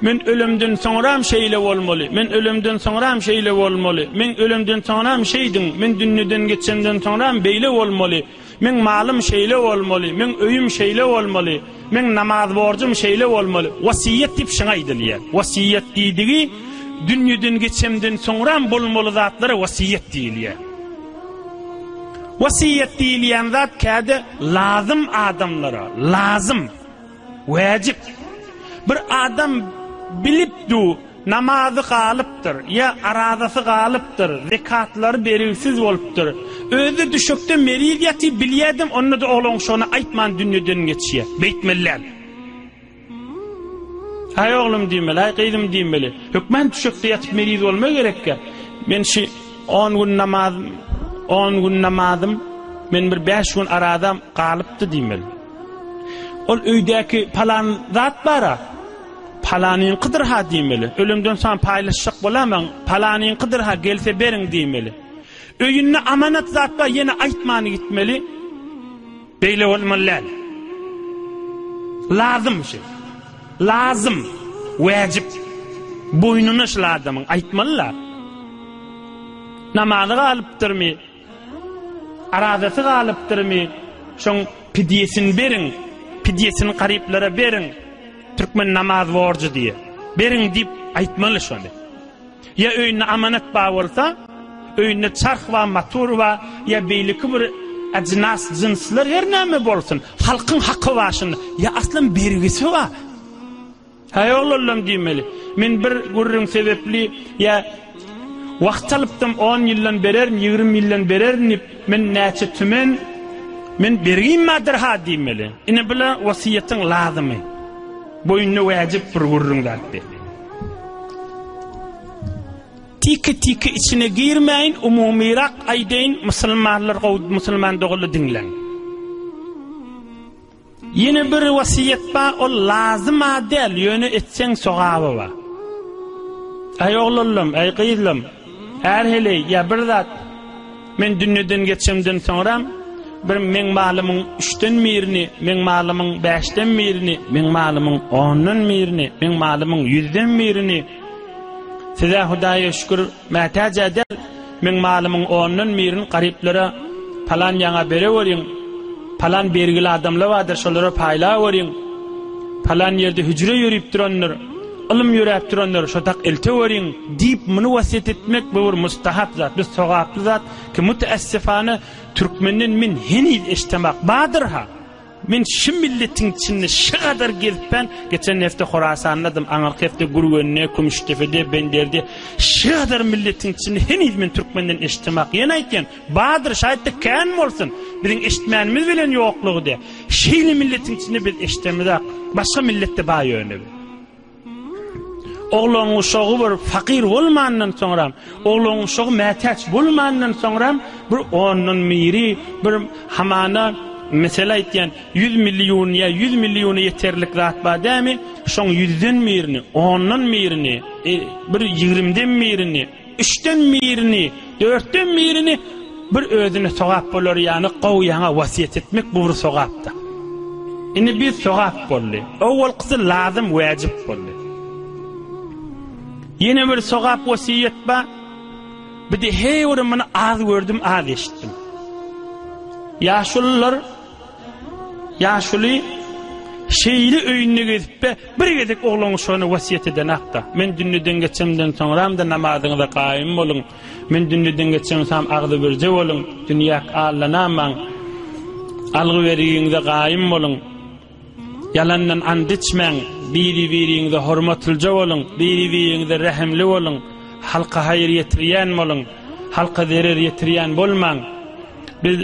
Men ölemden soňram şeýle bolmaly, men ölemden soňram şeýle bolmaly, men ölemden soňram şeýdiň, men dünneden geçemden soňram beýle bolmaly, meň malym şeýle bolmaly, meň öýüm şeýle bolmaly, meň namaz borjum şeýle bolmaly. Wasiýet diýip şuňa aýdylýar. Wasiýet diýdigi dünneden geçemden soňram bolmaly zatlara wasiýet diýilýär. Wasiýet diýilýän zat käde lazym adamlara, lazym. Wäjip. Bir adam bilip du, namazy galypdyr, ýa arazasy galypdyr, zekatlary beriwsiz bolupdyr. Özi düşekde meriz ýatyp bilýädem, onda-da oglan şony aýtman dünýeden geçýä. Beýtmeliäl. Aý oglum diýmeli, aý gyzym diýmeli. Hökman düşekde ýatyp meriz bolma gerekkä. Men şi on gün namazym, on gün namazym, men bir bäş gün arazam galypdy diýmeli. Ol öýdäki palan zat bar-a, palanyňkydyr-ha diýmeli. Ölemden soň paýlaşjak bolamaň, palanyňkydyr-ha, gelse beriň diýmeli. Öýünde amanat zat bar, ýene aýtman gitmeli. Beýle bolmaly däl. Lazym şu. Lazym, wäjip. Boýnuna şul adamyň aýtmaly-la. Namazy galypdyrmy? Arazasy galypdyrmy şoň pidýesini beriň, pidýesini garyplara beriň, türkmen namaz borjy diýe, beriň diýip aýtmaly şony. Ýa öýünde amanat bar bolsa, öýünde çarh bar, motor bar, ýa beýleki bir ajynas jynslar her näme bolsun, halkyň haky bar şunda, ýa aslan bergisi bar. Häý oglanlaň diýmeli. Men bir gürrüň sebepli ýa wagt alypdym on ýyldan bererin ýigrimi ýyldan bererin diýip men näçe tümen men bergim bardyr ha diýmeli. Ine bula wasiýetiň lazymy. Boýnuna wäjip bir gürrüň zatdy. Tiki tiki içine girmäýin umumyrak aýdaýyn musulmanlar gowy musulman dogaly diňläň. Ýene bir wasiýet bar ol lazyma däl ýöne etseň sogaby bar. Aý oglanlam aý gyzlam är heleý ýa bir zat men dünýeden geçemden soňram bir meň malymyň üçden birini meň malymyň bäşden birini meň malymyň ondan birini meň malymyň ýüzden birini size hudaýa şükür Mätäj-ä däl, meň malymyň ondan birini garyplara palan ýaňa bereweriň, palan bergili adamlar bardyr, şolara paýlaweriň, palan ýerde hüjre ýörüp durandyr, ylym ýöräp durandyr, şotak elteweriň diýip, muny wasýet etmek bu bir mustahap zat, bir sogaply zat ki, müteessyfana, türkmenden men heniz eşdemok. Bardyr-ha. Men şu milletiň içinde şu gadar gezip ben, geçen hepde Horasandaydym, aňyrky hepde Gürgende, Kümüşdepede, Benderde. Şu gadar milletiň içinde heniz men türkmenden eşitdemak. Ýene aýtýan, bardyr, şaýatda kän bolsun. Biziň eşitmänimiz bilen ýoklugy diýýär. Şeýle milletiň içinde biz eşidemizak. Başga milletde bar ýöne. Oglangyşagy bir pakyr bolmandan soňram, oglangyşagy mätäç bolmandan soňram bir ondan biri bir hamana mesele aýtýan, ýüz million ýa ýüz milliona ýeterlik zat bar dämi, şoň ýüzden birini, ondan birini, e, bir ýigrimden birini, Üçden birini, dörtden birini bir özüne sogap bolar ýaly gowyana wasýet etmek bu bir sogapdyr. Indi bir sogap boldy. Owalkysy lazym wajyp boldy. Ýene bir sogap wasiýet bar. Bir de heý bir muny az gördüm, az eşitdim. Ýaşulylar Ýaşuly şeýle öýünde gezip-de, bir gezek oglan şony wesýet edenakda, Men dünnüden geçemden soňram-da namazyňyza gaýym boluň, men dünnüden geçemsam agzybirje boluň, dünýäk allanamaň, algy-bergiňize gaýym boluň, ýalandan and içmäň, biri-biriňize hormatlyja boluň, biri-biriňize rehimli boluň, halka haýyr ýetirýän boluň, halka zerer ýetirýän bolmaň. Biz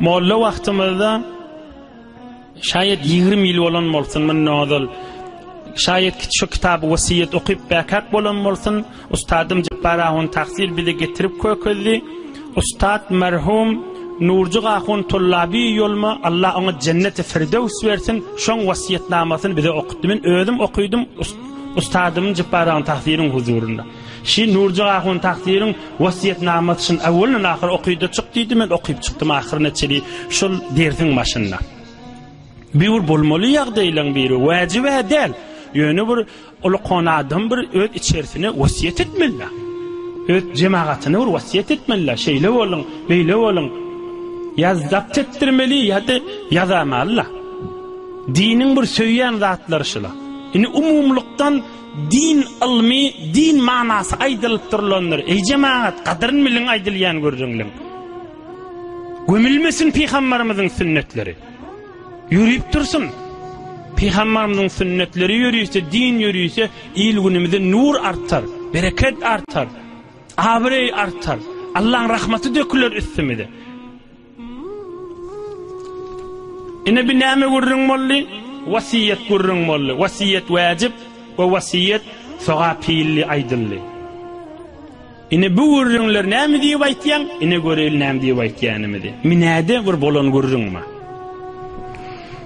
Molla wagtymyzda şaýat 20 ýyl bolan bolsun mundan ozal. Şaýat ki şu kitaby wasiýet okyp bäkak bolan bolsun. Ustadym Jepbar ahun Taksyr bizi getirip kökezdi. Ustad merhum Nurjyk ahun Tullaby ýoluma Alla oňa jenneti firdews bersin. Şoň wasiýetnamasyny bize okutdy. Men özüm okydym Ustadym Jepbar ahun Taksyryň huzurynda. Şi Nurjyk ahun takdyryň wasýetnamasyşn awwaldan ahyr okyda çyk diýdi men okyp çykdym ahyryna çeli şol dersiň başynda. Bir bir bolmaly ýagdaýlaň biri wajib däl. Ýöne bir uly kon adam bir öz içerisine wasýet etmeli. Öz jemagatyny bir wasýet etmeli. Şeýle boluň, beýle boluň. Ýa zapt etdirmeli ýa-da ýazamaly. Diniň bir söýýän zatlary şula. Indi umumlykdan Din ylmy, din manasy aýdylyp durlandyr. Eý jemagat, gadyryn biliň aýdylýan gürrüňliň. Gömülmesin pygambarymyzyň sünnetleri. Ýörüp dursun. Pygambarymyzyň sünnetleri ýörüse, din ýörüse, il-günümize nur artar, bereket artar, abraý artar. Allaň rahmaty döküler üstümize. Ine bi näme gürrüň boldy? Wasiýet gürrüň boldy. Wasiýet wäjip we wasiýet sogap hilli aýdyldy. Ine bu gürrüňler näme diýip aýtýaň? Ine göreýli näme diýip aýtýanymyzy. Minäde bir bolan gürrüňmi?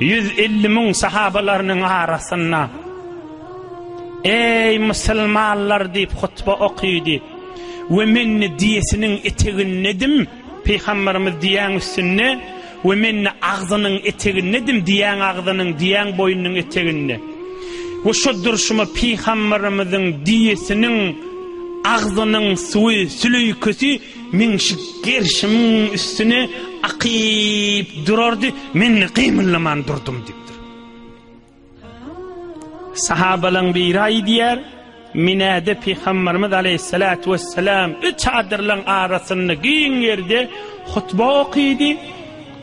Ýüz elli müň sahabalarynyň arasynda, Eý, musulmanlar! diýip hutba okydy we men-de diýesiniň etegindedim, pygamberimiz diýýäň üstünde we men-de agzynyň etegindedim, diýýäň agzynyň, diýýäň boýnunyň eteginde. We şo durşuma pygamberimiziň diýesiniň agzynyň suwy, süleýkesi Meň şu gerşimiň üstüne akyp durardy, men-de gymyldaman durdum diýipdir. Sahabalaň biri aýdýar, Minäde Pygamberimiz aleyhissalatu vesselam üç adyrlaň arasynda giň ýerde hutba okydy.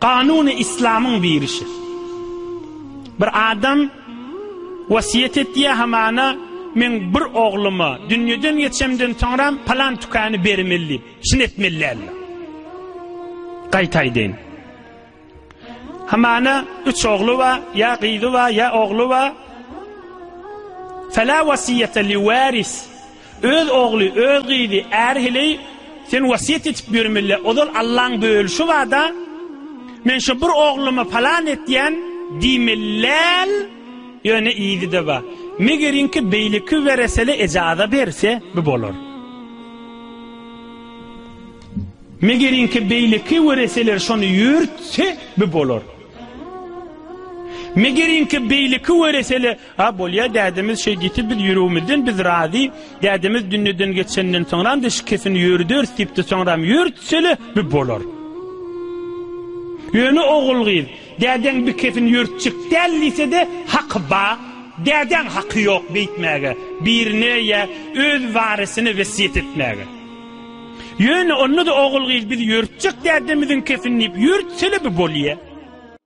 Kanuny islamyň birişi. Bir adam wasiýet etýär hamana men bir ogluma dünýeden geçemden soňram palan tükany bermeli diýip, şini etmeli Gaýtaýdyn. Hamana üç ogly bar, ýa gyzy bar, ýa ogly bar. Fela wasiýete li waris. Öz ogly, öz gyzy, äri heleý sen wasýet etip ýörmeli, ozal Allaň bölüşi barda, men şu bir ogluma palan etýän diýmeli däl, ýöne yzy-da bar. Megeriňki beýleki weresele ejaza berse, bu bolar. Megeriňki beýleki wereseler şony ýörütse, bu bolar. Megeriňki beýleki weresele A bolýa dädemiz şeý diti biz ýüregimizden biz razy dädemiz dünneden geçenden soňram de şikesini ýördürs dipdi soňram ýörtsele bi bolar. Ýöne ogul gyz dädeň bikesini ýörtjek däl diýsede haky ba dädäň haky ýok beýtmäge birine ýa öz warisine wesýet etmäge. Ýöne onda da ogul gyz biz ýörtjek dädemiziň kesini diýip ýörtsele bi bolýa.